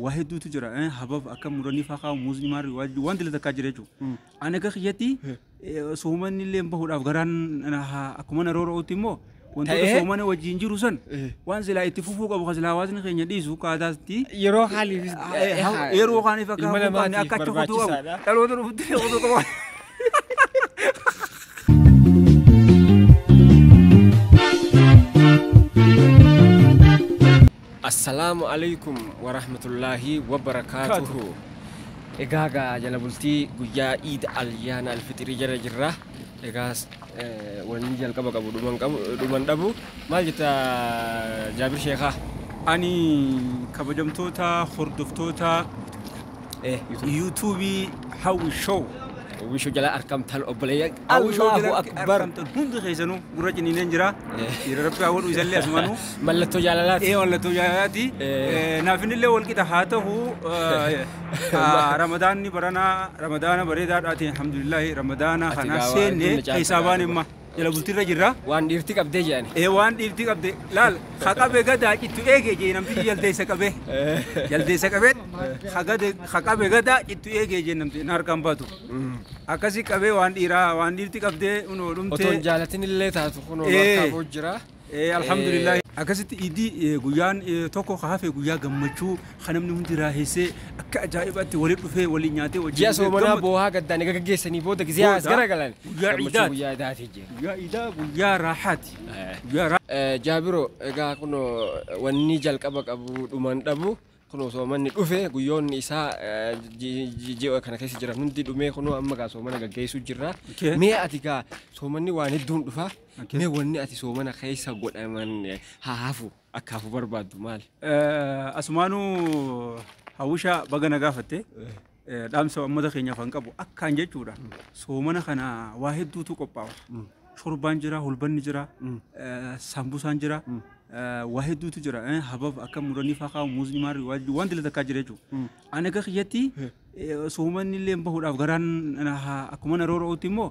waa hedduutu jira eh, habab akka muranii faa kaa'u muusni maarri waa- wanti illee takkaa jira jechuudha. Ani akka kiyyatti soomanni illee bahuudhaaf garaan na- ha- akkuma na roora'utti immoo wantoota Ta'ee? soomana wajjin jiru san Eh. waan silaa itti fufuu qabu kan silaa hawaasni keenya dhiisu kaataatti Yeroo haaliifis yeroo kaaniif akka ilma hafuu qabne namaatiif akka achi kutuu qabu barbaachisaadha. dhaloota dhufutti illee kutuu qabu. Assalaamu Aleykum Warahmatullaahi Wabarakaatuhu Egaa gaa jala bultii guyyaa Iid Alyaana Alfixirii jala jirra Egaa wanni jalqaba qabu dhuma hin qabu dhuma hin dhabu Maal jetta Jaabir Sheekhaa? Ani kabajamtoota hordoftoota Eh, YouTube. YouTube Hawwi Show. Hawwi Show jalaa arkamtan obboleeyyan Hawwishoo Allahu biratti akbar. argamtan hundi keessanuu gurra ciniineen jira. Dhiira rabbi haa godhu isallee asumanuu. Mallattoo jaalalaati. Ee mallattoo jaalalaati. Eh. Naafinillee wal qixa haa ta'u eh, ah, ramadaanni baranaa ramadaana bareedaadhaati alhamdulillaahi ramadaana Ati kana gaa waa seenne hedduun na caalta keessaa baane gaafadhu. imma jala bultiirra jirra. Waan dhiirti qabdee jedhani. Ee waan dhiifti qabde laal ha qabe gadaa cittu eege jee namtichi jaldeessa qabe jaldeessa qabe ha gade ha qabe gadaa cittu eege jee namti na harkaan baatu Akkasi qabee waan dhiiraa waan dhiirti qabdee unoo Otoo hin dhumtee. jaalatin illee taatu kunoo nu Ee. harkaa ba'u jira. Eh, alhamdulillah. Akkasitti iidii eh, guyyaan eh, tokko ka hafe guyyaa gammachuu kan namni hundi raaheessee akka ajaa'ibaatti walitti dhufee waliin nyaatee wajjin Ji'a soomanaa gammadu. boohaa gaddaan egaa gaggeessanii booda gisee as Booda, garagalan. guyyaa Gammachuu iidaati. Guyyaa iidaati jira. Guyyaa iidaa guyyaa raahaati. Eh. Guyyaa raahaati. Eh, Jaabiro egaa kunoo wanni jalqaba qabu dhuman dhabu Kunoo soomanni dhufe guyyoonni isaa ji'a kana keessa jiran hundi dhumee kunoo amma gaa soomana gaggeessuu jirra. Mee ati gaa soomanni waan hedduun dhufa. Mee wanni ati soomana keessa godhaman haa hafu akka hafu barbaaddu maali? Asumaanuu hawwisha baga na gaafatte. dhaamsa uummata keenyaaf kan qabu akkaan jechuudha. Soomana kana waa hedduutu qophaa'u. Shorbaan jira, hulbanni jira, saambusaan jira, waa hedduutu jira. Habab akka muranii faa kaa'u, muuzni maarri waan dila takkaa jira jechuudha. Ani akka kiyyatti soomanni illee bahuudhaaf garaan akkuma na roora'utti immoo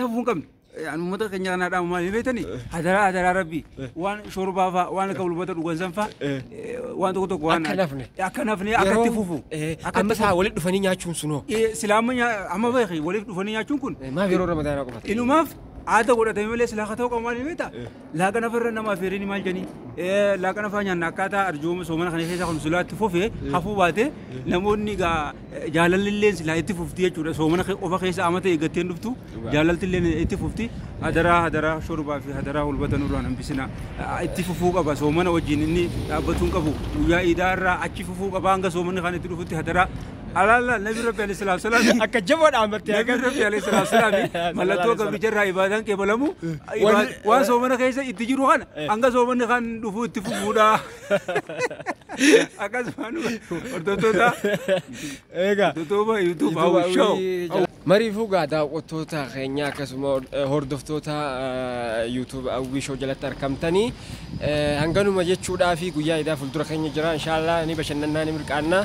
hafuu hin qabne. Ani uummata keenya kanaa dhaamu maal beektani? Hadaraa hadaraa rabbi waan shorbaa fa'aa waan akka bulbata dhugan san fa'aa waan tokko tokko waan Akka nafne. akka nafne akka itti fufu. Akka Amma itti isaa walitti dhufanii nyaachuun sunoo. fufu. Eh, Silaa amma nyaa- amma beeki waliif dhufanii nyaachuun kun Maaf yeroo ramadaanaa qofatti? inumaaf aada godhatame malee silaa haa ta'u qabu maal beekta? Laaqana farra nama afeerini maal jedhanii Eh, laaqana faa nyaanna akkaataa arjooma soomana kana keessaa kun silaa itti fufe hafuu baate namoonni egaa eh, jaalalleen silaa itti fufti jechuudha soomana kee- qofa keessa amata eeggatteen dhuftu jaalalleen itti fufti hadaraa hadaraa shorbaa fi hadaraa hulbata nurraan hambisina Ah, itti fufuu qaba soomana wajjin inni dhaabbatuun qabu guyyaa iidaa irraa achi fufuu qaba hanga soomanni kan itti dhufutti hadaraa Alaalaa Nabi Rabbi Alayhi Salaam Salaami. Akka jaboo dhaammatte Nabi akkas. Rabbi Alayhi Salaam Salaami. Mallattoo gabricha irraa ibaadaan kee balamu. Wanni- Waan soomana keessa itti jiru kana hanga soomanni kan dhufuu itti fufuudha. Akkasumaan hordoftoota Eegaa. Dutuba YouTube Hawwi Show. Mariifuu gaa daawwattoota keenya akkasuma eh, hordoftoota eh, YouTube Hawwii Show jalatti argamtanii eh, hanganuma jechuudhaa fi guyyaa idaa fuuldura keenya jira inshaallah ni bashannannaa ni mirqaannaa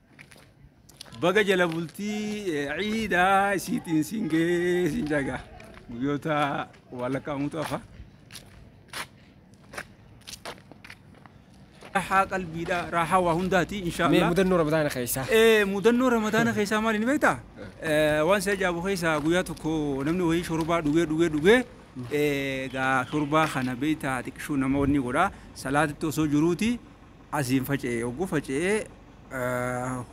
Baga jala bultii ciidaa isiitiin siin gahee siin jaga guyyoota waalakaamutu hafa. Raahaa qalbiidha raahaa waa hundaati Mee inshaallah. mudannoo ramadaana keessaa. Eh, mudannoo ramadaana keessaa maali ni beektaa? Eh, Waan si ajaa'ibu keessaa guyyaa tokko namni wayii shorbaa dhugee dhugee dhugee eh, egaa shorbaa kana beektaa xiqqishuu nama wanni godhaa salaatitti osoo jiruuti asiin faca'ee oguu faca'ee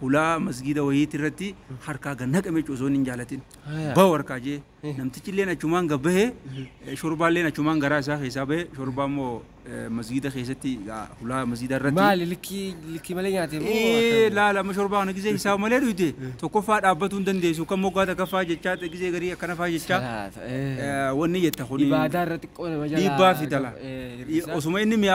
hulaa masgiida wahiiti irratti harkaa gad naqame jechuudha osoo inni hin jaalatin. Haya. Bahu harkaa jee Eh. namtichilleen achumaan gad bahe eh, shorbaalleen achumaan garaa isaa keessaa bahe shorbaa immoo eh, masgiida keessatti ah, hulaa masgiida irratti. Maali likkii likkii malee nyaatee moo? Ee, akkam? laala amma shorbaa kana gisee hisaaba malee dhuyte tokkoffaa dhaabbatuu hin dandeessu kan moggaa takkaffaa jechaa gisee garii akkana faa jechaa Salaata, eh. eh, wanni jetta kun Ibaadaa irratti xiqqoo nama jalaa. dhiibbaa fidala. Eh. Osuma inni mi'a.